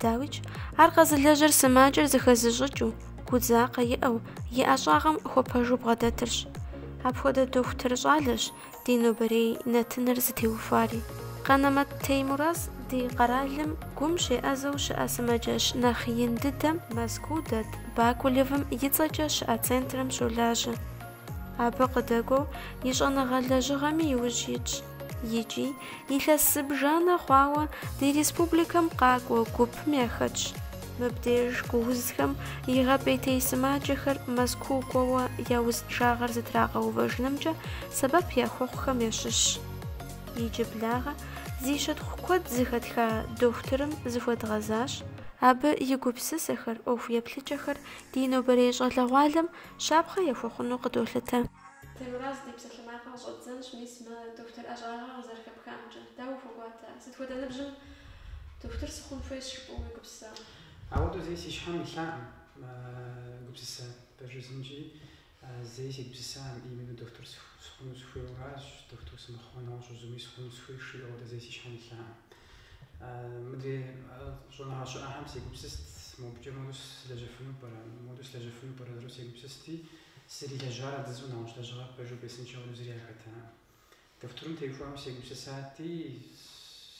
Дауикӏ, ар къэзылэжьыр сымаджэр зыхэзыщӏыкӏыу, гудзакъэ иӏэу, и ӏэщӏагъэм хуэпэжу бгъэдэтырщ. Апхуэдэ дохутыр щӏалэщ ди нобэрей нэтыныр зытеухуари. Къанэмэт Теймураз ди къэралым гум щеӏэзэу щыӏэ сымаджэщ нэхъ ин дыдэм Мэзкуу дэт Бакулевым и цӏэкӏэ щыӏэ центрым щолажьэ. Абы къыдэкӏуэу и щӏэныгъэ лэжьыгъэми иужь итщ. Икӏи, илъэс зыбжанэ хъуауэ ди республикэм къакӏуэ гупым яхэтщ. Мыбдеж гуузхэм игъэпӏейтей сымаджэхэр Мэзкуу кӏуэуэ я узыншагъэр зэтрагъэувэжынымкӏэ сэбэп яхуэхъухэм ящыщщ. Иджыблагъэ зи щытхъу куэд зыхэтха дохутырым зыхуэдгъэзащ. Абы и гупсысэхэр, ӏуэху еплъыкӏэхэр ди нобэрей щӏалэгъуалэм Щапхъэ яхуэхъуну къыдолъытэ. Теймураз ди псалъэмакъыр къыщӏэддзэнщ, мис мы дохутыр ӏэщӏагъэр къызэрыхэпхамкӏэ. Дауэ ухуэкӏуатэ? Сыт хуэдэ ныбжьым дохутыр сыхъун хуейщ жыпӏэу уегупсысэ? Ауэдэу зэи си щхьэм илъаӏым гупсысэ пэжызынкӏи, зэи сегупсысаӏым, именно дохутыр сыхъуну сыхуейуэращ, дохутыр сымыхъумэ, нэгъуэщӏ зыуи сыхъуну сыхуейщ, жысӏэу ауэдэ зэи си щхьэм илъаӏым. Мыдрей щӏэныгъэ щыӏэхэм сегупсыст, мобыкӏэ моду слэжьэфыну пӏэрэ, моду слэжьэфыну пӏэрэ жысӏэу сегупсысти, сызэрилэжьар адызу нэгъуэщӏ лэжьыгъэр пэжу бесыншэу зыри яхэтара. Дохутырым теухуауэ сегупсысати,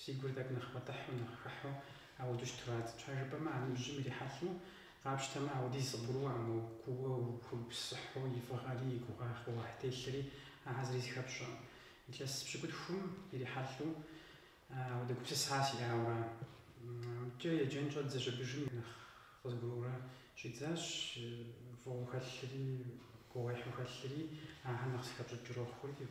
си гур тӏэкӏу нэхъ пӏэтӏыхьу, нэхъ хыхьу ауэдэу щытурат. Щхьэ жыпӏэмэ, а ныбжьым ирихьэлӏэу къапщтэмэ, ауэдиз къыбгурыӏуэкъым, куууэ ухуэгупсыхьу и фӏыгъэри, и гугъуехь телъри ахэр зыри зыхэпщӏэкъым. Илъэс пщыкӏутхум ирихьэлӏэу Ауэдэ гупсыса сиӏауэ икӏэ еджэн щӏэддзэ щӏыбыжым нэхъ къызгурыӏуэурэ щӏидзащ, фӏыгъэу хэлъри, гугъуехьу хэлъри, ахэр нэхъ зыхэпщӏыкӏыурэ хъури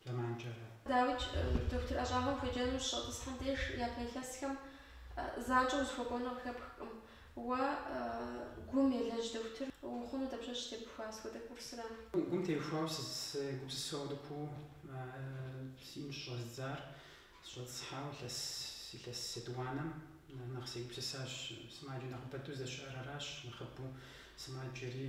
зэманкӏэ. Дауикӏ, дохутыр ӏэщӏагъэм хуеджэну щыщӏэтӏысхьэм деж япэ илъэсхэм занщӏэу узыхуэкӏуэну къыхэпхкъым. Уэ гум елэжь дохутыр ухъуну дапщэщ тебухуа, сыт хуэдэ курсыра? Гум теухуауэ сегупсысэу ауэдэ куууэ сиӏэн щыщӏэздзар сыщӏэтӏысхьауэ илъэс илъэс етӏуанэм нэхъ сегупсысащ. Сымаджэ нэхъыбэдэу здэщыӏэр аращ, нэхъыбэу сымаджэри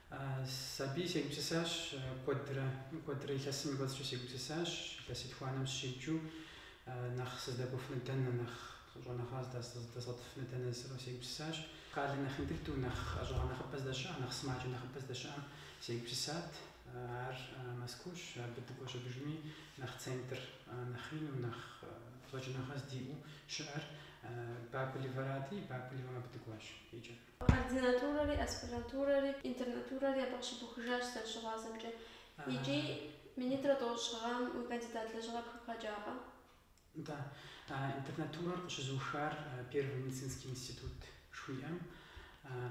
Сэ абыи сегупсысащ куэдрэ, куэдрэ илъэсым и кӏуэцӏкӏэ сегупсысащ, илъэс етхуанэм сыщеджэу нэхъ сыздэкӏуэфыну дэнэ, нэхъ щӏэныгъэ здэзгъуэтыфыну дэнэ жысӏэу сегупсысащ. Къалэ нэхъ ин дыдэу, нэхъ ӏэщӏагъэ нэхъыбэ здэщыӏэ, нэхъ сымаджэ нэхъыбэ здэщыӏэм сегупсысат. Ар Мэзкуущ, абы дыкӏуэ щӏыбыжми нэхъ центр нэхъ ину, нэхъ щӏэкӏыныгъэ здиӏэу щыӏэр Бакулевэрати, Бакулевэм абы дыкӏуащ иджы. Ординатурэри, аспирантурэри, интернатурэри абы къыщыбухыжащ сызэрыщыгъуазэмкӏэ. Икӏи, минитӏрэ щы гъэм уи кандидат лэжьыгъэр пхыбгъэкӏакъэ? Нтӏэ. Интернатурэр къыщызухар Первый медицинский институт жыхуиӏэм,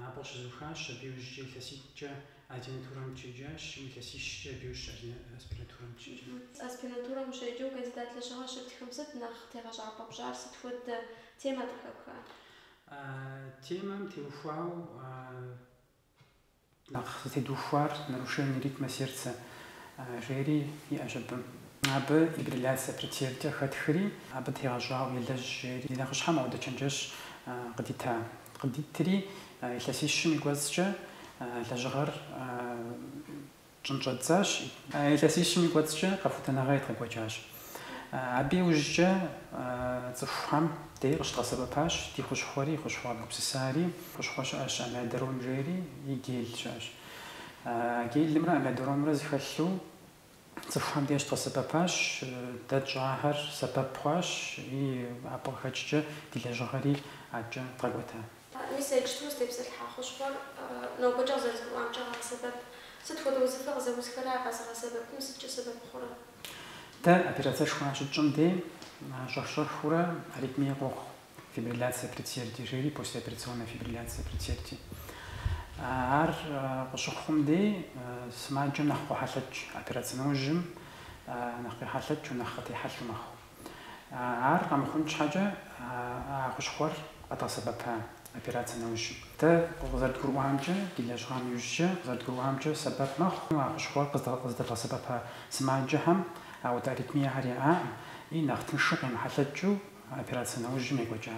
абы къыщызухащ, абы иужькӏэ илъэситӏкӏэ ординатурэм дыщеджащ, илъэсищкӏэ абы иужькӏэ аспирантурэм дыщеджащ. Аспирантурэм ущеджэу кандидат лэжьыгъэр щыптхым сыт нэхъ тегъэщӏапӏэ пщӏар, сыт хуэдэ темэ къыхэпха? А темэм теухуауэ нэхъ зытедухуар Нарушение ритма сердца жери щыӏэщ абы. Абы фибрилляция предсердий хэтхри, абы тегъэщӏауэ елэжь жери, ди нэхъыщхьэм ауэдэ чэнджэщ къыдита. Къыдитри, илъэсищым и кӏуэцӏкӏэ лэжьыгъэр тщӏын щӏэддзащ. Илъэсищым и кӏуэцӏкӏэ къэхутэныгъэ едгъэкӏуэкӏащ. Абы иужькӏэ цӏыхухам дей къыщыдгъэсэбэпащ ди хущхъуэри, хущхъуэ гупсысари. Хущхъуэ щыӏэщ Амиодарон жери, и Гел щыӏэщ. Гелымрэ Амиодаронымрэ зыхэлъу цӏыхухам дей къыщыдгъэсэбэпащ, дэ тщӏахэр сэбэп хъуащ, и абы къыхэкӏкӏэ ди лэжьыгъэри адэкӏэ дгъэкӏуэта. Мис иджыпсту узтепсэлъыхьа хущхъуэр нобэкӏэ къызэрызгурыӏуамкӏэ къагъэсэбэп. Сыт хуэдэ узыфэ къызэузхэрэ а къэзыгъэсэбэпым сыткӏэ сэбэп хъурэ? Дэ операцэшхуэ щытщӏым дей щӏэх-щӏэхыурэ аритмие къохъу, фибрилляция предсердий жери, послеоперационная фибрилляция предсердий. Ар къыщыхъум дей сымаджэм нэхъ къохьэлъэкӏ, операцэ нэужьым нэхъ къехьэлъэкӏыу, нэхъ къытехьэлъу мэхъу. Ар къэмыхъун щхьэкӏэ а хущхъуэр къэдгъэсэбэпа операцэ нэужь. Дэ къызэрыдгурыӏуамкӏэ, ди лэжьыгъэм иужькӏэ къызэрыдгурыӏуамкӏэ, сэбэп мэхъу а хущхъуэр къыздэдгъэсэбэпа сымаджэхэм ауэдэ аритмиехэр яӏакъым и нэхъ тыншу къемыхьэлъэкӏыу операцэ нэужьым екӏуэкӏа.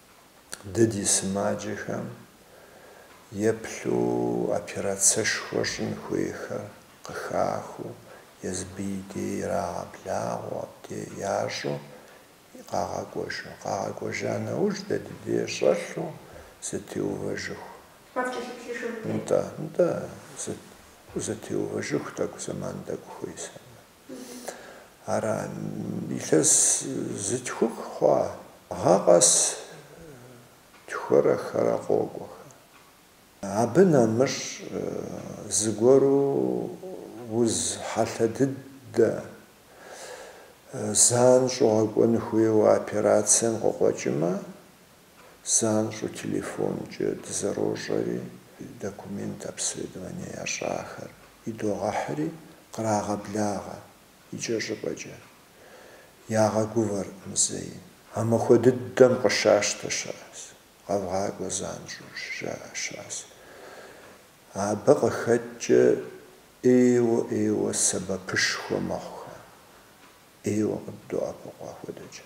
Дэ ди сымаджэхэм еплъу операцэшхуэ щӏын хуейхэр къыхахыу, езы абы и дей ирагъэблагъэу абде ящӏу къагъэкӏуэжу. Къагъэкӏуэжа нэужь дэ ди дей щӏэлъу зэтеувэжыху. Нтӏэ, нтӏэ, зэтеувэжыху тӏэкӏу зэман тӏэкӏу хуейсамэ. Ара, илъэс зы тхух хъуа? Гъэ къэс тхурэ хырэ къокӏуэхэ. Абы нэмыщӏ зыгуэру уз хьэлъэ дыдэ, занщӏэу гъэкӏуэн хуейуэ операцием къыкъуэкӏымэ, Занщӏэу телефонкӏэ дызэрощӏэри, документ обследование ящӏахэр идогъэхьри, кърагъэблагъэ икӏэщӏыпӏэкӏэ. Ягъэгувэркъым зэи. А махуэ дыдэм къыщащтэ щыӏэс, къэвгъакӏуэ занщӏэу щыжаӏэ щыӏэс. Абы къыхэкӏкӏэ ӏейуэ-ӏейуэ сэбэпышхуэ мэхъухэ, ӏейуэ къыддоӏэпыкъу апхуэдэкӏэ.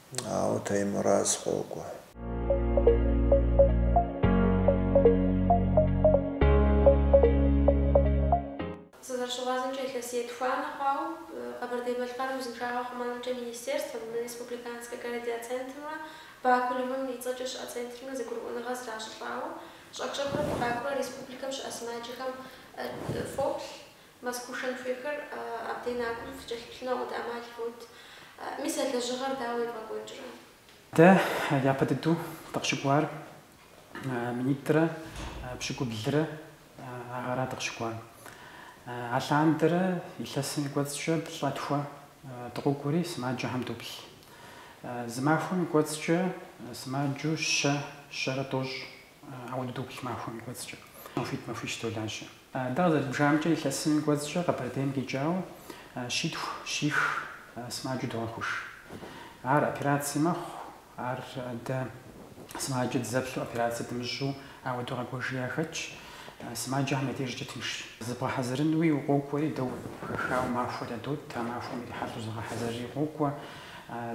Ауэ Таймураз къокӏуэ. Сызэрыщыгъуазэмкӏэ, илъэс етхуанэ хъуауэ Къэбэрдей-Балъкъэрым узыншагъэ хъумэнымкӏэ министерствэм, мы республиканскэ кардиоцентрымрэ Бакулевым и цӏэкӏэ щыӏэ центрымрэ зэгурыӏуэныгъэ зращӏылӏауэ, щӏэх-щӏэхыурэ фыкъакӏуэрэ республикэм щыӏэ сымаджэхэм фоплъ, Мэзкуу шэн хуейхэр абдей накӏуэм фыкӏэлъыплъыну ӏэмал фот. Мис а лэжьыгъэр дауэ евгъэкӏуэкӏрэ? Дэ япэ дыдэу дыкъыщыкӏуар минитӏрэ пщыкӏублрэ а гъэра дыкъыщыкӏуар. Алъандэрэ илъэсым и кӏуэцӏкӏэ плӏэ-тхуэ дыкъокӏуэри сымаджэхэм доплъ. Зы махуэм и кӏуэцӏкӏэ сымаджэу щэ, щэрэ тӏощӏ, ауэдэу доплъ махуэм и кӏуэцӏкӏэ. Махуитӏ-махуищ долажьэ. Дэ къызэрыдбжамкӏэ, илъэсым кӏуэцӏкӏэ Къэбэрдейм къикӏауэ щитху, щих, сымаджэу догъэхъуж. Ар операци мэхъу, ар дэ сымаджэ дызэплъу операци дымыщӏу ауэдэу къэкӏуэжи яхэтщ. Сымаджэхэм я дежкӏэ тынш. Зыбгъэхьэзырынуи укъокӏуэри, дэ хэхауэ махуэ ядот, а махуэм ирихьэлӏэу зегъэхьэзырри къокӏуэ.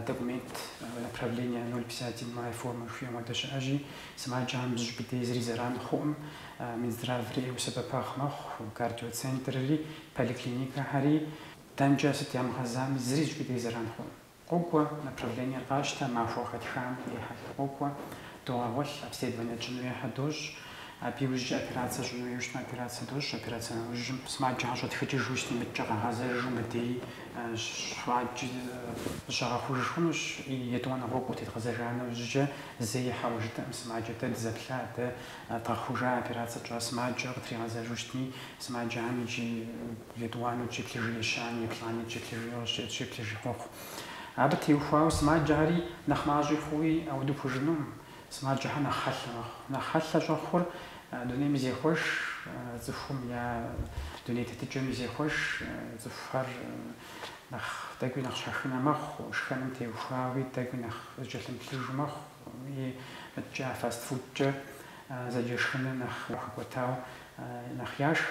Документ, направление ноль пятьдесят седьмая формэ жыхуиӏэм хуэдэ щыӏэщи, сымаджэхэм зыщӏыпӏи дей зыри зэран хъуӏым. Минздраври ӏейуэ сэбэп мэхъу, кардиоцентрри, поликлиникэхэри. Дэнкӏэ сыт ямыгъэзами, зыри зыщӏыпӏи дей зэран хъуӏым. Къокӏуэ, направление къащтэ, махуэ хэтхам ехьэлӏэу къокӏуэ, догъэгъуэлъ, обследование тщӏын хуейхэр дощӏ. Абы иужькӏэ операцэ щӏын хуейуэ щытмэ, операцэ дощӏ, операцэ нэужьым. Сымаджэ къыщӏэтхыкӏыжу щытымыткӏэ, къагъэзэжу мыдей щхъуаджи зыщагъэхъуж хъунущ. Етӏуанэ гъуэгу къытедгъэзэжа нэужькӏэ зэи хьэуэ жытӏэкъым, сымаджэ дэ дызэплъа, дэ Дгъэхъужа операцэ тщӏа сымаджэ къытригъэзэжу щытми, сымаджэхэм иджы етӏуанэу дыщеплъыжу ещанэ, еплӏанэу дыщеплъыжу щеплъыжи къохъу. Абы теухуауэ сымаджэхэри нэхъ мащӏи хъууи ауэдэу пхужыӏэнукъым. Сымаджэхэр нэхъ хьэлъэ мэхъу. Нэхъ хьэлъэ щӏэхъур дунейми зехъуэж, цӏыхум я дуней тетыкӏэми зехъуэж, цӏыхухэр нэхъ тӏэкӏуи нэхъ щхьэхынэ мэхъу, шхэным теухуауи тӏэкӏуи нэхъ зыкӏэлъымыплъыжу мэхъу. и мыдкӏэ фастфудкӏэ зэджэ шхыныр нэхъ хэкӏуэтауэ нэхъ яшх,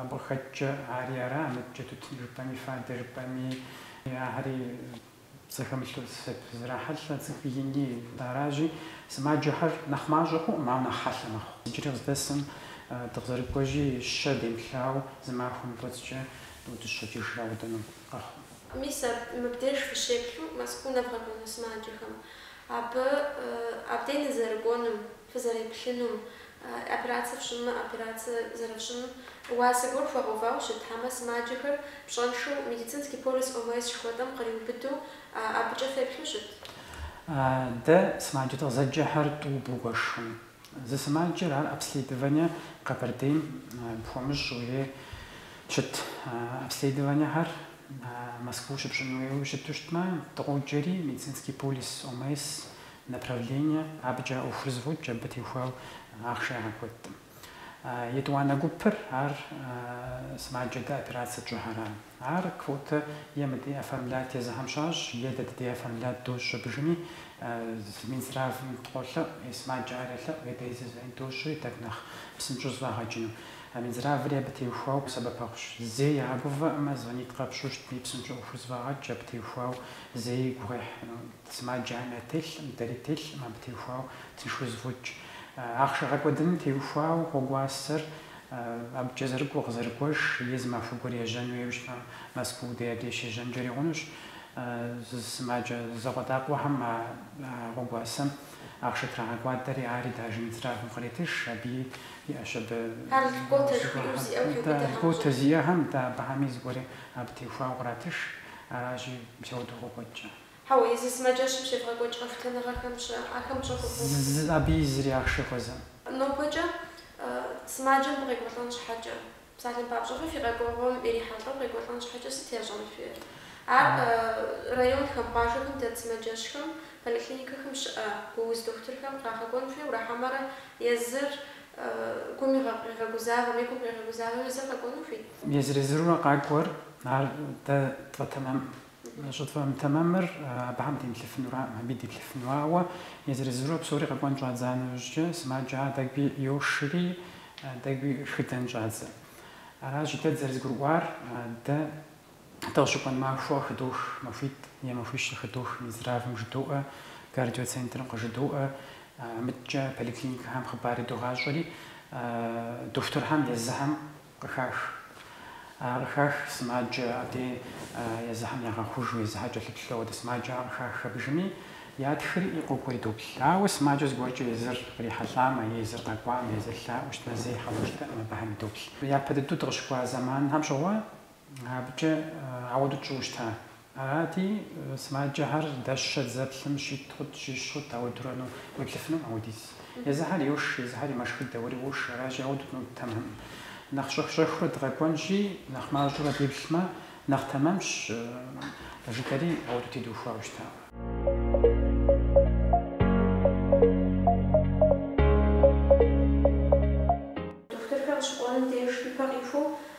абы къыхэкӏкӏэ ари ара, мыдкӏэ тутын жыпӏэми, фадэ жыпӏэми, ахэри зэхэмылъу зрахьэлӏэ, цӏыху ини аращи, сымаджэхэр нэхъ мащӏэ хъуӏым, ауэ нэхъ хьэлъэ мэхъу. Иджыри къыздэсым дыкъызэрыкӏуэжьи, щэ демыплъауэ зы махуэм и кӏуэцӏкӏэ дыудыщэкӏыж аудэну. Мис аб, мыбдеж фыщеплъу Мэзкуу нэвгъэкӏуэну сымаджэхэм, абы, абдей нызэрыкӏуэнум, фызэреплъынум, операцэ фщӏымэ, операцэ зэрыфщӏым, уасэ гуэр хуэгъэувауэ щыт, хьэмэ сымаджэхэр пщӏэншэу Медицинский полис ОМС жыхуэтӏэм къриубыдэу абыкӏэ феплъу щыт? Дэ сымаджэ дыкъызэджэхэр тӏу бгуэшым, Зы сымаджэр ар обследование Къэбэрдейм пхуэмыщӏу щыт. Обследованиехэр Москва щыпщӏын хуейуэ щыту щытмэ, дыкъоджэри Медицинский полис, ОМС направление, абыкӏэ ӏуэхур зэфӏокӏ, абы теухуауэ ахъшэ ягъэкӏуэдкъым. Етӏуанэ гупыр ар сымаджэ дэ операцэ тщӏыхэра. Ар квотэ е мыдэ оформлять езыхэм щащӏ, е дэ ди дей оформлять дощӏ щӏыбжыми, Минздравым дыкъолъэӏу, е сымаджэ ар елъэӏу, е дэ изэзэӏин дощӏри, так, нэхъ псынщӏэу зэфӏагъэкӏыну. Минздраври абы теухуауэ сэбэпэхъущ. Зэи ягъэгувэӏым, а звонить къэпщӏу щытми, псынщӏэу ӏуэхур зэфӏагъэкӏ, абы теухуауэ зэи гугъуехь сымаджэм телъӏым, дэри ттелъӏым, абы теухуауэ тыншу зэфӏокӏ. Ахъшэ гъэкӏуэдыным теухуауэ гъуэгуасэр. Абыкӏэ зэрыкӏуэ, къызэрыкӏуэж, езым махуэ гуэр ежьэн хуейуэ щытмэ, Москва дей абдей щежьэнкӏэри хъунущ. Сымаджэ зэкъуэдакъуэхэм а гъуэгуасэм ахъшэ трагъэкӏуадэри, ари дажэ мицрагым къретыж, абыи иӏэщ абы. Льготэ зиӏэхэм, дэ абыхэми зыгуэри абы теухуауэ къратыж, аращи, мис ауэдэу къокӏуэкӏкӏэ. Хьэуэ, езы сымаджэщым щебгъэкӏуэкӏ къэхутэныгъэхэм щыӏэ, ахэм пщӏэ хуэхъуэу. Зы, абы и зыри ахъшэ хуэзэӏым. Нобэкӏэ сымаджэм къекӏуэлӏэн щхьэкӏэ, псалъэм папщӏэ, фэ фи къэкӏуэгъуэм ирихьэлӏэу къекӏуэлӏэн щхьэкӏэ сыт ящӏэн хуейр? Ар районхэм, къуажэхэм дэт сымаджэщхэм, поликлиникэхэм щыӏэ гууз дохутырхэм къагъэкӏуэн хуейуэ ара хьэмэрэ езыр гум къигъэгузавэм е гум къигъэгузавэм езыр къэкӏуэну хуит? Езыр-езырурэ къакӏуэр, ар дэ тфӏэтэмэмӏым Щӏытфӏэмытэмэмыр абыхэм демыплъыфынураӏым, абыи деплъыфыну. Ауэ езыр-езырурэ псори къэкӏуэн щӏадза нэужькӏэ, сымаджэхэр тӏэкӏуи йошри, тӏэкӏуи шхыдэн щӏадзэ. Аращи, дэ дызэрызэгурыӏуар, дэ дыкъыщыкӏуэн махуэ хыдох, махуитӏ е махуищ хыдох, Минздравым жыдоӏэ, кардиоцентрым къыжыдоӏэ, мыдкӏэ поликлиникэхэм хъыбари догъащӏэри, дохутырхэм езыхэм Къыхах. А къыхах сымаджэ абдей езыхэм ягъэхъужу, езыхэр кӏэлъыплъу, ауэдэ сымаджэ а къыхах абыхэми ятхри къокӏуэри доплъ. Ауэ сымаджэ зыгуэркӏэ езыр кърихьэлӏамэ, е езыр къэкӏуамэ, езыр лъаӏуэу щытмэ зэи хьэуэ жытӏэкъым абыхэми доплъ. Япэ дыдэу дыкъыщыкӏуа зэманхэм щыгъуэ абыкӏэ ауэдэу тщӏыуэ щыта. Арати, сымаджэхэр дэ щэ дызэплъым щитӏ хъут, щищ хъут, ауэдэурэ ну уеплъыфынум ауэдиз. Езыхэри йош, езыхэри мэшхыдэ, уэри уош, аращи, ауэдэу ну тэмэмым. Нэхъ щӏэх-щӏэхыурэ дыкъэкӏуэнщи, нэхъ мащӏэурэ деплъмэ, нэхъ тэмэмщ, жытӏэри ауэдэу тедухуауэ щыта. Дохутырхэр къыщыкӏуэнум деж ипэ къихуэу,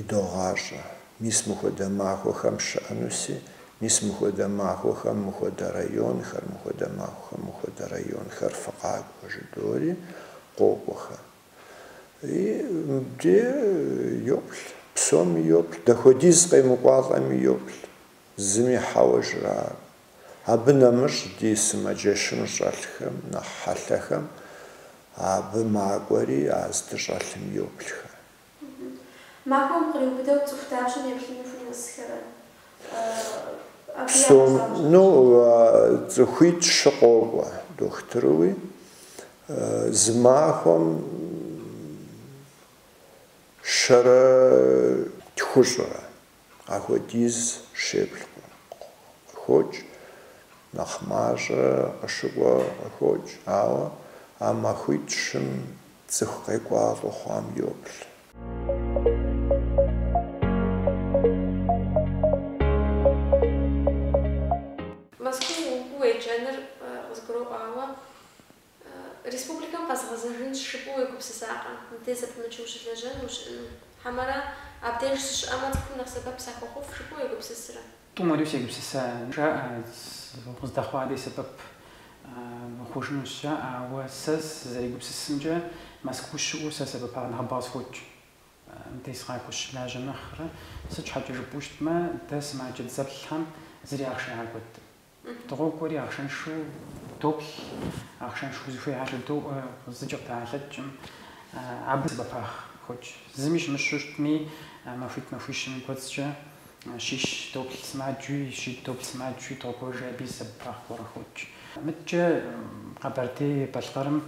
идогъащӏэ. Мис мыхуэдэ махуэхэм щыӏэнуси, мис мыхуэдэ махуэхэм мыхуэдэ районхэр, мыхуэдэ махуэхэм мыхуэдэ районхэр фыкъакӏуэ жыдоӏэри къокӏуэхэ. И мыбди йоплъ, псоми йоплъ, дапхуэдиз къемыкӏуалӏэми йоплъ, зыми хьэуэ жраӏэ. Абы нэмыщӏ ди сымаджэщым щӏэлъхэм нэхъ хьэлъэхэм абы макӏуэри а здыщӏэлъым йоплъхэ. Махуэм къриубыдэу цӏыху дапщэм еплъыну фынэсхэрэ? Псом, ну, цӏыхуитӏ-щы къокӏуэ дохутырыуи, зы махуэм щэрэ тхущӏрэ. Ахуэдиз щеплъ къыхокӏ, нэхъ мащӏэ къыщыкӏуэ къыхокӏ, ауэ а махуитӏ-щым цӏыху къекӏуалӏэу хъуам йоплъ. Мэзкуу укӏуэу уеджэныр къызгурыӏуауэ, Республикэм къэзгъэзэжынщ жыпӏэу уегупсысакъэ, мыде зэпымычу ущылэжьэн ущыӏэну? Хьэмэрэ абдеж сыщыӏэмэ цӏыхум нэхъ сэбэп сахуэхъуф жыпӏэу уегупсысрэ? Тӏум уэри сегупсыса, жаӏэ, укъыздэхъуа дей сэбэп ухъужынущ, жаӏэ, ауэ сэ сызэрегупсысымкӏэ Мэзкуу сыщыӏэу сэ сэбэпагъэ нэхъыбэ къысхокӏ. Мыде сыкъакӏуэу сыщылажьэ нэхърэ, сыт щхьэкӏэ жыпӏэу щытмэ, дэ сымаджэ дызэплъхэм зыри ахъшэ ягъэкӏуэдым. Дыкъокӏуэри ахъшэншэу доплъ, ахъшэншэу зыхуейхэр жыдоӏэ, зыкӏи къыдэхьэлъэкӏкъым абы сэбэпагъ хокӏ. Зыми щымыщу щытми, махуитӏ-махуищым и кӏуэцӏкӏэ щищ доплъ сымаджэуи, щитӏ доплъ сымаджэуи дыкъокӏуэжи абы сэбэпагъ гуэрэ хокӏ. Мыдэкӏэ Къэбэрдей-Балъкъэрым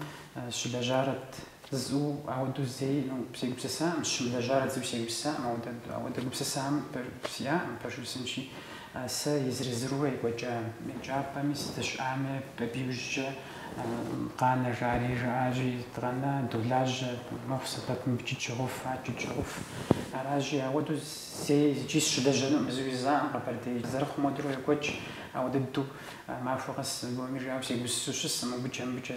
щылэжьарэт Зу ауэдэу зэи, ну, сегупсысакъым, щымылэжьар жысӏэу сегупсысакъым, ауэдэ, ауэдэ гупсысэ сиӏакъым пэжу жысӏэнщи, сэ езыр-езыру екӏуэкӏа еджапӏэми сызыщыӏами, абы иужькӏэ къанэ жаӏэри жаӏащи, дыкъэна, долажьэ, мэхъу сэбэп мыбыкӏи дыщохъуф, абыкӏи дыщохъуф, аращи, ауэдэу зэи иджи сыщылэжьэнукъым, жысӏэу жысӏакъым Къэбэрдей, зэрыхъум хуэдэурэ екӏуэкӏ, ауэдэ дыдэу махуэ къэс, гуэми жиӏэу сегупсысу сыщыскъым, мыбыкӏэ, мыбыкӏэ,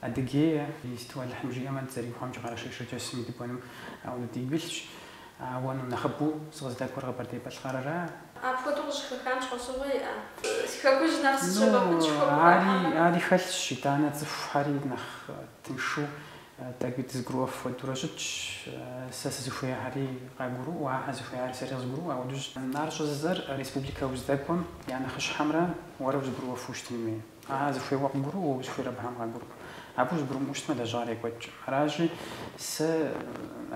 Адыгея иджыпсту Алыхьым жиӏэмэ, дызэригугъэмкӏэ, Къэрэшей-Шэрджэсыми дыкӏуэну, ауэ, ну, дигу илъщ. Ауэ ну нэхъыбэу сыкъыздэкӏуэр Къэбэрдей-Балъкъэрыращ. Апхуэдэу къыщӏыхэпхам щхьэусыгъуэ иӏэ? Си хэкужь нэхъ зыщымыхъунщ хуэпхуэхьэмэ. Ну, ари хэлъщ, итӏанэ цӏыхухьэри нэхъ тыншу, тӏэкӏуи дызыгурыӏуэф хуэдэурэ щытщ. Сэ сызыхуеяхьэри къагурыӏуэу, ахэр зыхуеяхьэри сэри къызгурыӏуэу ауэдущ. Ар щӏыжысӏэр республикэ уздэкӏуэм я нэхъыщхьэмрэ уэрэ узыгурыӏуэфу щытын хуей. Ага, зыхуейр уэ къыбгурыӏуэу, уэ узыхуейр абыхэм къагурыӏуэу. Абы узыгурымыӏуэу щытмэ, лэжьыгъэр екӏуэкӏкъым. Аращи, сэ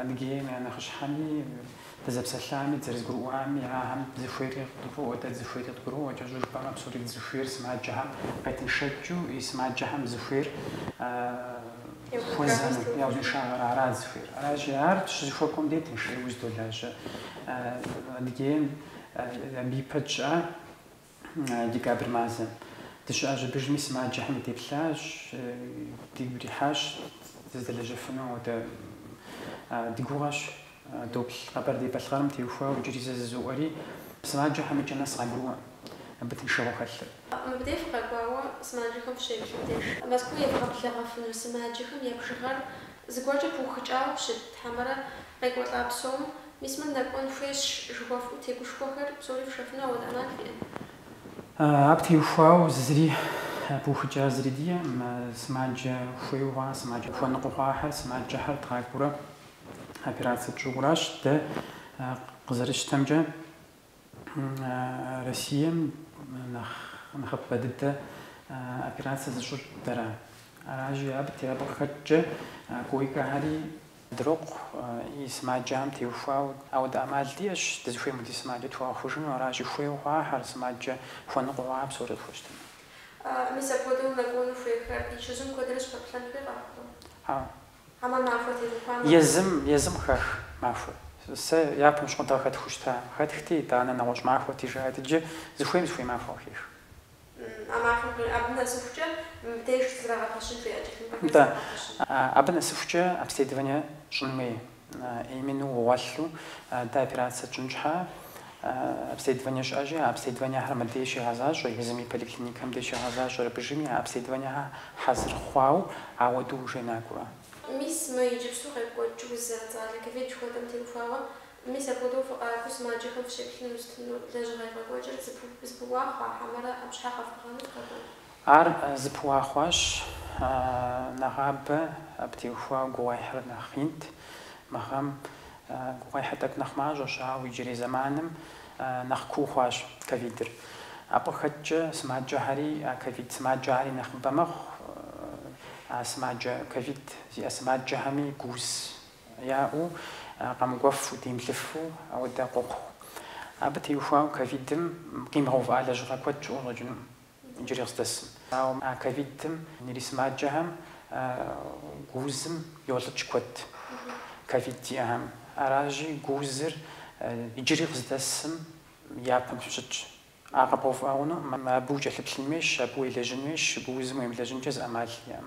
Адыгейм я нэхъыщхьэми, дызэпсэлъами, дызэрызэгурыӏуами, ахэм зыхуейри къыдгурыӏуэ, дэ дызыхуейри къагурыӏуэ, кӏэщӏу жыпӏэмэ, псори дызыхуейр сымаджэхэм къетыншэкӏыу и сымаджэхэм зыхуейр хуэзэнур, я узыншагъэр арат зыхуейр. Аращи, ар щызэхуэкӏуэм дей тыншурэ узэдолажьэ. Адыгейм абы ипэкӏэ декабрь мазэм. Дыщыӏащ, абдежми сымаджэхэм деплъащ, дигу ирихьащ дызэдэлэжьэфыну. Ауэдэ ди гугъэщ доплъ Къэбэрдей-Балъкъэрым теухуауэ иджыри зэ жызоӏэри, сымаджэхэм икӏэ нэс къагурыӏуэ абы тыншыгъуэ хэлъыр. Мыбдеж фыкъэкӏуауэ сымаджэхэм фыщеплъым деж, Мэзкуу евгъэблэгъэфыну сымаджэхэм я бжыгъэр зыгуэркӏэ пыухыкӏауэ щыт, хьэмэрэ къекӏуэлӏа псом Мис мыр нэкӏуэн хуейщ жыхуэфӏэу тегушхуэхэр псори фшэфыну ауэдэ ӏэмал фиӏэ? Абы теухуауэ зыри пыухыкӏа зыри диӏэкъым. Сымаджэ хуейуэ хъуа, сымаджэ хуэныкъуэ хъуахэр, сымаджэхэр дгъакӏуэурэ операцэ тщӏыуэ аращ дэ къызэрытщтэмкӏэ. Россием нэхъ нэхъыбэ дыдэ операцэ зыщӏыр дэращ. Аращи абы те, абы къыхэкӏкӏэ койкэхэри дрокъу, и сымаджэхэм теухуауэ. Ауэ дэ ӏэмал диӏэщ, дызыхуейм хуэдиз сымаджэ тхуэгъэхъужыну, аращи хуейуэ хъуахэр сымаджэ хуэныкъуэ хъуа псори къытхуэщтэну. Мис апхуэдэу нэкӏуэну хуейхэр я чэзум куэдрэ щыпэплъэн хуей къэхъурэ? Езым, езым къыхах махуэр. Сэ япэм щыгъуэ дэ къыхэтхыу щыта. Къыхэтхти, итӏанэ нэгъуэщӏ махуэти, жаӏэт иджы, зыхуейм зыхуей махуэ къыхех. Нтӏэ, абы нэсыхукӏэ обследование щӏын хуей, именно угъуэлъу дэ операцэ тщӏын щхьэ. Обследование щыӏэщи, а обследованиехэр мыдей щигъэзащӏэ, езым и поликлиникэм дей щигъэзащӏэр абыжыми а обследованиехэр хьэзыр хъуау, ауэдэу уженакӏуэ. Мис мы иджыпсту къекӏуэкӏ уз зэрыцӏалэ ковид жыхуэтӏэм теухуауэ, мис апхуэдэу фыкъакӏуэу сымаджэхэм фыщеплъыну щытыну лэжьыгъэ евгъэкӏуэкӏыр зыпыуа хъуа хьэмэрэ ӏэпщхьэ къэфӏыгъэну фхэкӏуэн? Ар зыпыуа хъуащ. Нэгъабэ абы теухуауэ гугъуехьыр нэхъ инт мы гъэм. Гугъуехьыр тӏэкӏу нэхъ мащӏэщ, ауэ иджырей зэманым нэхъ куу хъуащ ковидыр. Абы къыхэкӏкӏэ сымаджэхэри а ковид сымаджэхэри нэхъыбэ мэхъу, а сымаджэ ковид зиӏэ сымаджэхэми гууз яӏэу, къэмыкӏуэфу, демыплъыфу ауэдэ къохъу. Абы теухуауэ ковидым къимыгъэувыӏа лэжьыгъэ куэд щыӏэу щӏэкӏыну Иджыри къыздэсым. Ауэ а ковидым ирисымаджэхэм гуузым йолӏыкӏ куэд, ковид зиӏэхэм. Аращи, гуузыр иджыри къыздэсым япэм щытщ. А къэбгъэувыӏэ хъунум, абы укӏэлъыплъын хуейщ, абы уелэжьын хуейщ, гуузым уемылэжьынкӏэ зы ӏэмал иӏэм.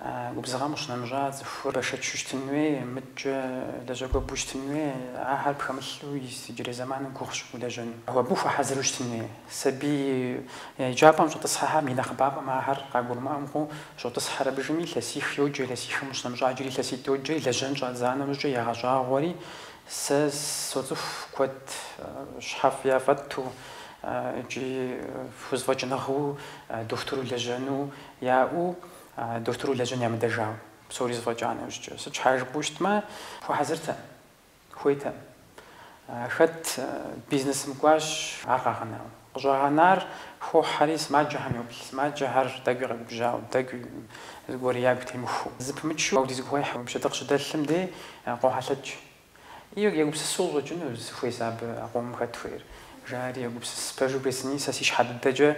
А губзыгъэм къыщынэмыщӏа цӏыхур бэшэчу щытын хуей, мыдкӏэ лэжьакӏуэ бу щытын хуей, ахэр пхэмылъу иджырей зэманым гугъущ улэжьэну. Абы хуэхьэзыру щытын хуей. Сабий еджапӏэм щӏэтӏысхьэхэм и нэхъыбапӏэм ахэр къагурымыӏуэу щӏотӏысхьэр абыжми, илъэсих йоджэ, илъэсихэм къыщынэмыщӏа иджыри илъэситӏ йоджэ, лэжьэн щӏадза нэужькӏэ ягъэщӏагъуэри, сэ соцӏыху куэд щхьэфӏ яфӏэту икӏи хузэфӏэкӏыныгъэу дохутыру лэжьэну яӏэу, Дохутыру лэжьэн ямыдэжауэ, псори зэфӏэкӏа нэужькӏэ, сыт щхьа жыпӏэу щытмэ, хуэхьэзыртэм, хуейтэм. Хэт бизнесым кӏуащ, ар къагъэнауэ. Къыщӏагъэнар хохьэри, сымаджэхэм йоплъ, сымаджэхэр тӏэкӏуи къэгубжьауэ, тӏэкӏуи зыгуэр ягу темыхуу. Зыпымычу ауэдиз гугъуехьэ уи пщэдыкъ щыдэлъым дей къохьэлъэкӏ. И, егупсысу щӏэкӏыну сыхуей сэ абы а къомым хэт хуейр. Жари, егупсыс, пэжу бжесӏэни, сэ си щхьэ дыдэкӏэ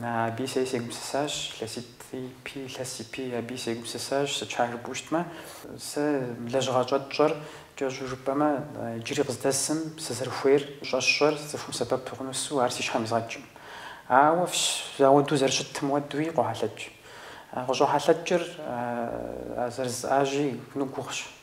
аби сэ сегупсысащ, илъэситӏ ипи, илъэс ипи аби сегупсысащ, сыт щхьа жыпӏэу щытмэ. Сэ лэжьыгъэ щӏэтщӏэр кӏэщӏу жыпӏэмэ, иджыри къыздэсым сызэрыхуейр щӏэсщӏэр цӏыхум сэбэп хъунусу ар си щхьэм изгъэкӏым. Ауэ фщ ауэдэу зэрыщытым уэдуи къохьэлъэкӏ. Къыщӏохьэлъэкӏыр а зэрызыӏажьи гугъущ.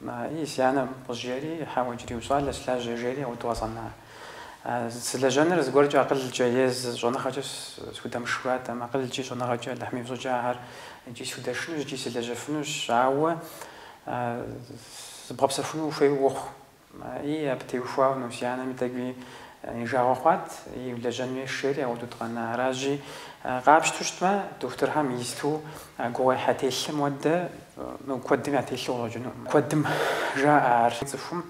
Мыи си анэм къыжери, хьэуэ, иджыри ущӏалэс, лажьэ, жери ауэдэу къэзгъэна. Сылэжьэныр зыгуэркӏэ акъылкӏэ е зы щӏэныгъэкӏэ судэмышыжу аратэм, акъылкӏи щӏэныгъэкӏи Алыхьым и фӏыщӏэкӏэ ахэр икӏи судэшынущ, икӏи сылэжьэфынущ, ауэ зыбгъэпсэхуну ухуейуэ ухъу. Мыи абы теухуауэ си анэми тӏэкӏуи и жагъуэ хъуат, ии, улэжьэн уей, жери ауэдэу дыкъэна. Аращи, къапщту щытмэ, дохутырхэм исту гугъуехьэ телъым уэдэ, Мыгу куэдым ятелъу къыщӏэкӏынукъым. Куэдым жаӏэ ар цӏыхум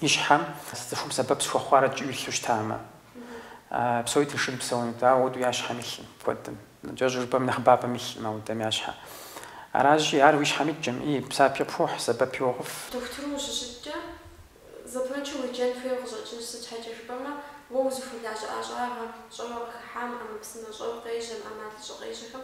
и щхьэм, цӏыхум сэбэп сыхуэхъуарэт жиӏу илъу щытамэ. Псори тыншу псэунут, ауэ уэду я щхьэм илъкъым куэдым. Кӏэщӏ жыпӏэм нэхъыбапӏэм илъкъым ауэдэ я щхьэ. Аращи, ар уи щхьэм иткӏэми, псапи къыпхуохь, сэбэпи уохъуф. Дохутыру ущыщыткӏэ, зэпымычу уеджэн хуейуэ къыщӏэкӏынщ, сыт щхьэкӏэ жыпӏэмэ, уэ узыхуэлажьэ ӏэщӏагъэм, щӏэуэ къыхыхьам, ӏэмэпсымэ щӏэу къежьэм, ӏэмалыщӏэ къежьэхэм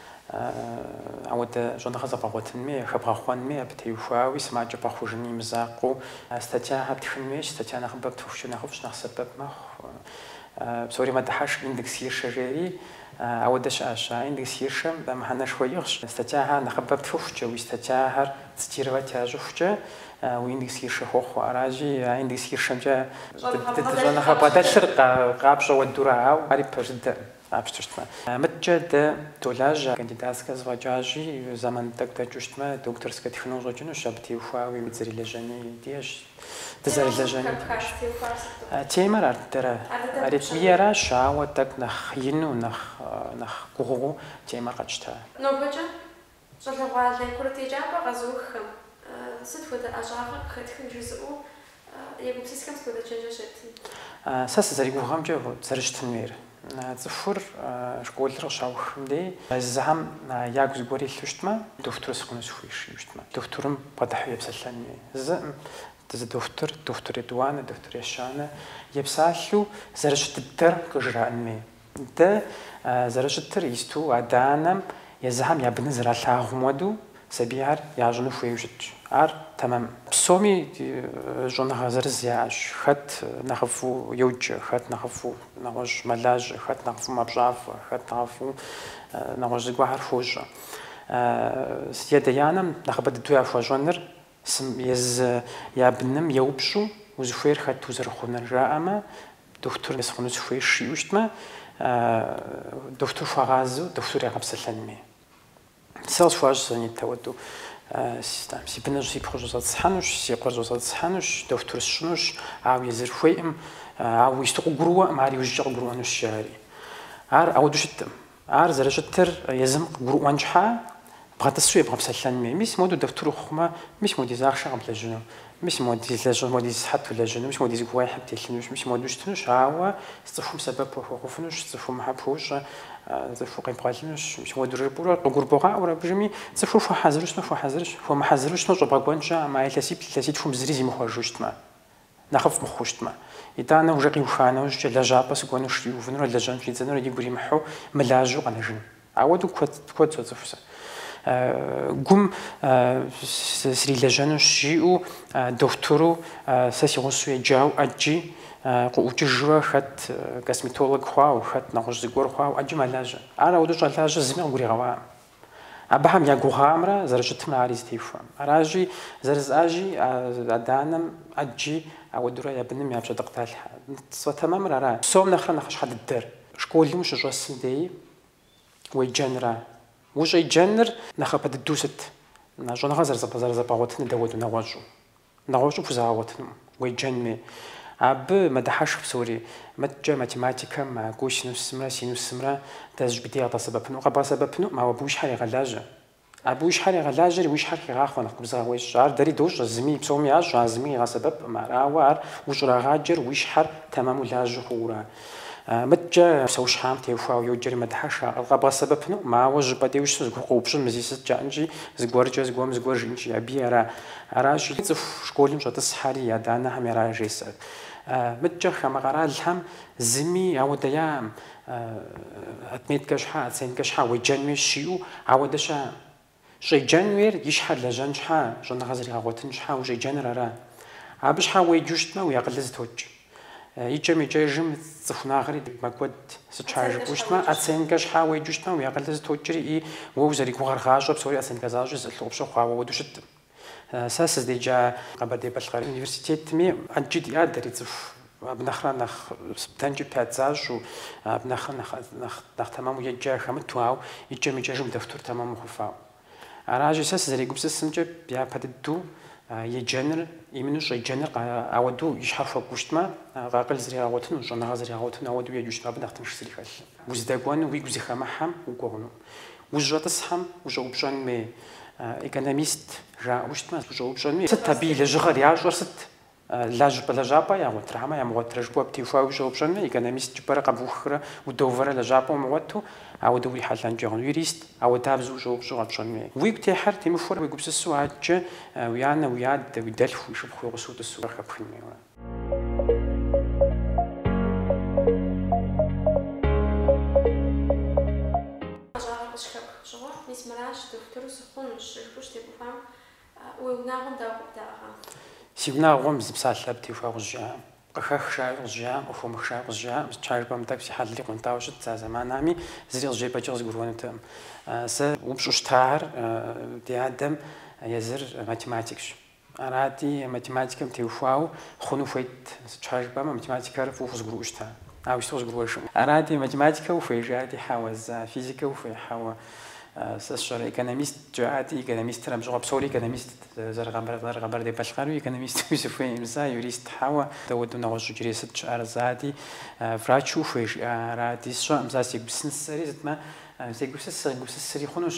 Ауэдэ щӏэныгъэ зэбгъэгъуэтын хуей, хэбгъэхъуэн хуей, абы теухуауи сымаджэ бгъэхъужын и мызакъуэу статьяхэр птхын хуейщ. Статья нэхъыбэ птхыхукӏэ нэхъыфӏщ, нэхъ сэбэп мэхъу. Псори мэдыхьэшх индекс Хиршэ жери ауэдэ щыӏэщ. А индекс Хиршэм мыхьэнэшхуэ иӏыгъщ. Статьяхэр нэхъыбэ птхыхукӏэ, уи статьяхэр цитировать ящӏыхукӏэ, уи индекс Хиршэ хохъуэ. Аращи, а индекс Хиршэмкӏэ щӏэныгъэ бгъэдэлъыр къапщӏэ уэдура, ауэ ари пэж дыдэкъым. Къапщту щытмэ, мыдкӏэ дэ долажьэ, кандидатскэ зэфӏэкӏащи, зэман тӏэкӏу дэкӏыу щытмэ, докторскэ тхыну къыщӏэкӏынущ, абы теухуауи дызэрылэжьэни диӏэщ, дызэрылэжьэни диӏэщ. Темэр ар дыдэра, аритмиеращ, ауэ тӏэкӏу нэхъ ину, нэхъ гугъуу темэр къэтщта. Нобэкӏэ Щӏалэгъуалэ курыт еджапӏэ къэзыуххэм сыт хуэдэ ӏэщӏагъэ къыхэтхын жызыӏэу егупсысхэм сыт хуэдэ чэнджэщ ептын? Сэ сызэригугъэмкӏэ зэрыщытын хуейр, цӏыхур школыр къыщаухым дей езыхэм ягу зыгуэр илъу щытмэ, дохутыр сыхъуну сыхуейщ жиӏэу щытмэ, дохутырым бгъэдыхьэу епсэлъэн хуей. Зыкъым, зы дохутыр, дохутыр етӏуанэ, дохутыр ещанэ, епсалъэу зэрыщыт дыдэр къыжраӏэн хуей. Дэ зэрыщытыр исту адэ-анэм езыхэм я быныр зэралъагъум уэду сабийхэр ящӏыну хуейу щытщ. Ар тэмэмкъым. Псоми щӏэныгъэ зырыз яӏэщ, хэт нэхъыфӏу йоджэ, хэт нэхъыфӏу нэгъуэщӏ мэлажьэ, хэт нэхъыфӏу мэпщафӏэ, хэт нэхъыфӏу нэгъуэщӏ зыгуэрхэр хуощӏэ. И адэ-анэм нэхъыбэ дыдэу яхуэщӏэныр езы я быным еупщӏу, узыхуейр хэт узэрыхъунур жаӏэмэ, Дохутыр сыхъуну сыхуейщ жиӏэу щытмэ, дохутыр хуагъазэу дохутыр ягъэпсэлъэн хуей. Сэ слъэгъуащ си нитӏ уэду. Там си быныр си пхъур щӏэзгъэтӏысхьэнущ, си къуэр щӏэзгъэтӏысхьэнущ, дохутыр сщӏынущ, ауэ езыр хуейкъым, ауэ исту къыгурыӏуэкъым, ар иужькӏэ къыгурыӏуэнущ, жаӏэри. Ар ауэду щыткъым. Ар зэрыщытыр езым къыгурыӏуэн щхьа, бгъэтӏысу ебгъэпсэлъэн хуей. Мис моду дохутыр ухъумэ, мис модиз ахъшэ къэблэжьыну, мис модиз лэжьыгъэ, модиз сыхьэт улэжьыну, мис модиз гугъуехьыр птелъынущ, мис моду щытынущ, ауэ цӏыхум сэбэп уахуэхъуфынущ, цӏыхум хьэ пхуущӏэ, цӏыху къебгъэлынущ, мис моду жыпӏэурэ къыгурыбгъаӏуэрэ, абы иужьми, цӏыхур хуэхьэзыру щытмэ, хуэхьэзырщ, хуэмыхьэзыру щытмэ, щӏэбгъэкӏуэнщ, а мэ илъэсиплӏ, илъэситхум зыри зимыхъуэжу щытмэ. Нэхъыфӏ мыхъу щытмэ. Итӏанэ уже къиуха нэужькӏэ лэжьапӏэ сыкӏуэнущ жери увынурэ лэжьэн щӏидзэнурэ игу иримыхьу мылажьэу къэнэжыну. Ауэдэу куэд, куэд соцӏыху сэ. Гум срилэжьэнущ жиӏэу дохутыру сэ си гъусэу еджау ӏэджи къыӏукӏыжурэ хэт косметолог хъуау, хэт нэгъуэщӏ зыгуэр хъуау ӏэджи мэлажьэ. Ар ауэдэу щӏэлажьэ зыми къыгуригъэӏуакъым. Абыхэм я гугъамрэ зэрыщытымрэ ари зытехуэм. Аращи, зэрыжысӏащи, а адэ-анэм ӏэджи ауэдурэ я быным я пщэдыкъ далъхьэ. Сфӏэтэмэмыр ара? Псом нэхърэ нэхъыщхьэ дыдэр? Школым ущыщӏэсым деи уеджэнра? Ущӏеджэныр нэхъапэ дыдэу сыт? Щӏэныгъэ зэрызэбгъэгъуэтыныр дауэду нэгъуэщӏу? Нэгъуэщӏу пхузэгъэгъуэтыну уеджэнми, абы мэдыхьэшх псори. Мыткӏэ математикэм а косинусымрэ синусымрэ дэ зыщӏыпӏэ дей къыдгъэсэбэпыну? Къэбгъэсэбэпынум, ауэ абы уи щхьэр егъэлажьэ. Абы уи щхьэр егъэлажьэри, уи щхьэр хегъахъуэ нэхъ губзыгъэ уещӏ. Ар дэри дощӏэ, зыми, псоми ящӏ, а зыми къигъэсэбэпкъым ар. Ауэ ар ущӏрагъаджэр уи щхьэр тэмэму лажьэу хъуура? Мыткӏэ псэущхьэм теухуауэ йоджэри мэдыхьэшх, ар къэбгъэсэбэпынум, ауэ щӏыпӏэ де ущысу зыгугъу къыупщӏын мы зи сыт жаӏэнщи, зыгуэркӏэ зыгуэм зыгуэр жиӏэнщи, абы ара? Аращи, цӏыху школым щӏэтӏысхьэри адэ-анэхэм яра жесӏэр? Мыткӏэ хамэ къэралхэм зыми ауэдэ яӏэм, отметкэ щхьа, оценкэ щхьа уеджэнуи жиӏэу ауэдэ щыӏэм. Щӏеджэн уейр и щхьэр лэжьэн щхьэ, щӏэныгъэ зэригъэгъуэтын щхьэ ущӏеджэныр ара? Абы щхьэ уеджэу щытмэ, уи акъылыр зытокӏ. Икӏэм-икӏэжым цӏыху унагъэри мэкӏуэд. Сыт щхьа жыпӏэу щытмэ, оценкэ щхьэ уеджэу щытмэ, уи акъылыр зытокӏри и уэ узэригугъэр гъащӏэ, псори оценкэ защӏи зыӏылъу къыпщыхъуауэ ауэду щыткъым. Сэ сыздеджа Къэбэрдей-Балъкъэр университетми ӏэджи диӏа дэри цӏыху абы нэхърэ нэхъ оценки пять защӏэу, абы нэхърэ нэхъ тэмэму еджа хэмыту, ау икӏэм-икӏэжым дохутур тэмэм мыхъуфауэ. Аращи, сэ сызэрегупсысымкӏэ, япэ дыдэу еджэныр, именно щӏеджэныр ауэдэу и щхьэр хуэкӏу щытмэ, акъыл зригъэгъуэтыну, щӏэныгъэ зригъэгъуэтыну ауэдэу еджу щытмэ, абы нэхъ тынш зыри хэлъым. Уздэкӏуэну уигу зыхэмыхьэм укӏуэ хъунум. Ущӏэтӏысхьэм ущӏэупщӏэн хуей экономист жаӏэу щытмэ, ущӏэупщӏэнуи, сыт абы и лэжьыгъэр, ящӏэр сыт, лажьпӏэ лэжьапӏэ ягъуэтрэ хьэмэ ямыгъуэтрэ жыпӏэу абы теухуауи ущӏэупщӏэн хуей, экономист жыпӏэрэ къэбухрэ удоувэрэ лэжьапӏэ умыгъуэту, ауэдэу урихьэлӏэнкӏэ хъуну, юрист, ауэдабзэу ущӏэупщӏэу къэпщӏэн хуей. Уигу техьэр темыхуэрэ уегупсысу адэкӏэ уи анэ, уи адэ, уи дэлъху, уи шыпхъу, уи гъусэу утӏысу къыхэпхын хуейуэ. Ӏэщӏагъэ къыщыхэпх фӏыщӏыгъуэр, мис мыращ, дохутыру сыхъунущ, жыпӏэу щытебухуам, уи унагъуэм дауэ къыбдэӏыгъа? Си унагъуэм зы псалъэ теухуауэ къызжаӏэм, къыхэх жаӏэу къызжаӏэм, къыхомых жаӏэу къызжаӏэм, сыт щхьа жыпӏэмэ тӏэкӏу си хьэлри къуэнтӏауэ щытт а зэманами, зыри къызжепӏэкӏи къызгурыӏуэнутэкъым. Сэ упщӏу щытар ди адэм езыр математикщ. Арати, математикэм теухуауэ хъуну хуейт, сыт щхьа жыпӏэмэ математикэр фӏыуэ хузгурыӏуэу щыта, ауэ сыт къызгурыӏуэжым. Арати, математикэ ухуей, жаӏати, хьэуэ, сэ, физикэ ухуей, хьэуэ, сэ сщӏэрэ, экономист, жаӏати, экономистыр абжьыгъуэ псори экономистт, зэры-Къэбэрдей-Балъкъэру экономист, сыхуейкъым, сэ, юрист, хьэуэ, дауэду нэгъуэщӏ иджырей сыт щыӏэр, жаӏати, врач ухуей, жиӏа, арати, сщӏэкъым, сэ сегупсысынсэри, итӏанэ, сегупсыс, сыкъигупсысри хъунущ.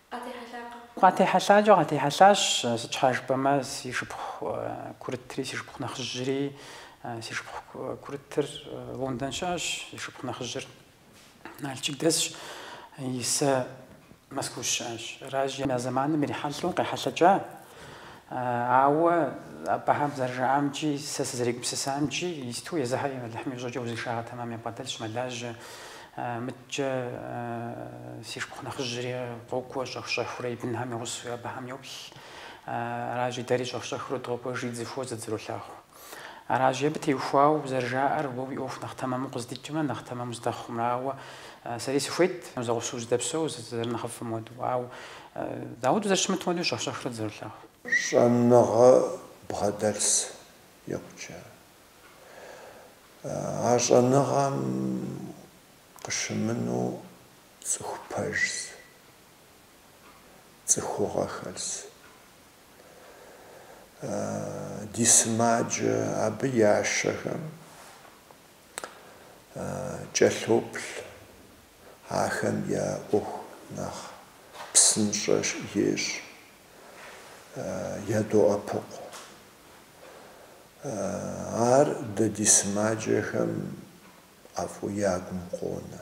Къатехьэлъакъэ? Къатехьэлъакӏэ къатехьэлъащ, сыт щхьа жыпӏэмэ си шыпхъу курытри си шыпхъу нэхъыжьри, си шыпхъу курытыр Лондон щыӏэщ, си шыпхъу нэхъыжьыр Налшык дэсщ, Исэ Москва щыӏэщ. Аращи, а зэманым ирихьэлӏэу къехьэлъэкӏащ Ауэ абыхэм зэрыжаӏамкӏи, сэ сызэрегупсысамкӏи, исту езыхьэри Алыхьым и фӏыщӏэкӏэ узыншагъэ тэмэм ябгъэдэлъщ, мэлажьэ. Мыдкӏэ си шыпхъу нэхъыжьри къокӏуэ щӏэх-щӏэхыурэ и бынхэм я гъусэуи абыхэм йоплъ. Аращи, дэри щӏэх-щӏэхыурэ докӏуэжри, дызэхуозэ, дызэролъагъу. Аращи абы теухуауэ зэрыжаӏэр, уэ уи ӏуэху нэхъ тэмэму къыздикӏымэ, нэхъ тэмэму уздэхъумэ. Ауэ сэри сыхуейт, зэгъусэу зыдэпсэу, зэрынэхъыфӏым хуэдэу. Ауэ дауи зэрыщымытми хуэдэу щӏэх-щӏэхрэ дызэрылъагъу. Щӏэныгъэ бгъэдэлъс икъукӏэ. А щӏэныгъэм къыщымынэу цӏыху пэжс, цӏыхугъэ хэлс. ди сымаджэ абы ящэхэм кӏэлъоплъ, ахэм я ӏуэху нэхъ псынщӏэ ещӏ, ядоӏэпыкъу. Ар дэ ди сымаджэхэм ӏэфӏу ягум къонэ.